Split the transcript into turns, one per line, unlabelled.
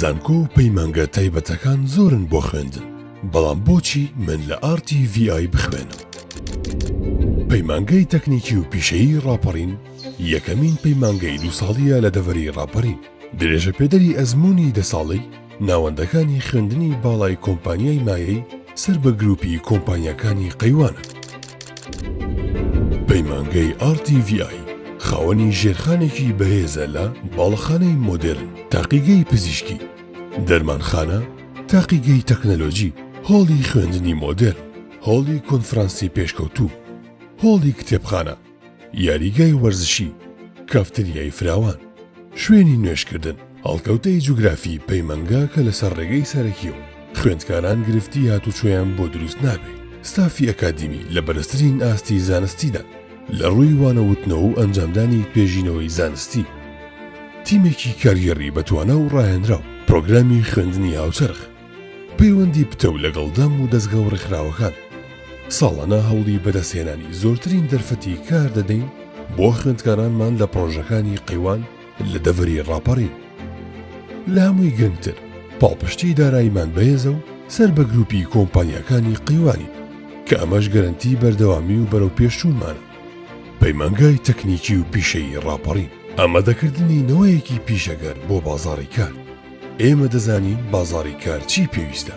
زانکۆ و پەیمانگە تایبەتەکان زۆرن بۆ خوێندن بەڵام بۆچی من لە ئارتی VI بخوێنم؟ پەیمانگەی تەکنیکی و پیشەیی ڕاپەڕین یەکەمین پەیمانگەی دوو ساڵیە لە دەڤەری ڕاپەرین درێژە پێدەری ئەزمونی دە ساڵەی ناوەندەکانی خوێندنی باڵای کۆمپانیای مایەی سەر بە گروپی کۆمپانیاکانی قەیوانن. پەیمانگەی ئاڕ تی ڤی ئای خاوەنی ژێرخانێکی بەهێزە لە، باڵەخانەی مۆدێرن، تاقیگەی پزیشکی، دەرمانخانە، تاقیگەی تەکنەلۆجی، هۆڵی خوێندنی مۆدێرن، هۆڵی کۆنفرانسی پێشکەوتوو، هۆڵی کتێبخانە. یاریگای وەرزشی، کافتریای فراوان، شوێنی نوێژکردن، هەڵکەوتەی جوگرافی پەیمەنگا کە لەسەر ڕێگەی سەرەکیە و خوێندکاران گرفتی هاتوچۆیان بۆ دروست نابێ، ستافی ئەکادیمی لە بەرزترین ئاستی زانستیدان لە ڕووی وانە وتنەوە و ئەنجامدانی توێژینەوەی زانستی، تیمێکی کارگێڕی بەتوانا و ڕاهێنراو، پرۆگرامی خوێندنی هاوچەرخ. پەیوەندی پتەو لەگەڵ دەم و دەزگا و ڕێکخراوەکان. ساڵانە هەوڵی بەدەستهێنانی زۆرترین دەرفەتی کار دەدەین بۆ خوێندکارانمان لە پڕۆژەکانی قەیوان لە دەڤەری ڕاپەڕین. لە هەمووی گرنگتر پاڵپشتی داراییمان بەهێزە و سەر بە گروپی کۆمپانیاکانی قەیوانین کە ئەمەش گەرەنتی بەردەوامی و بەرەوپێشچوونمانە. پەیمانگای تەکنیکی و پیشەیی ڕاپەڕین. ئامادەکردنی نەوەیەکی پیشەگەر بۆ بازاڕی کار. ئێمە دەزانین بازاڕی کار چی پێویستە.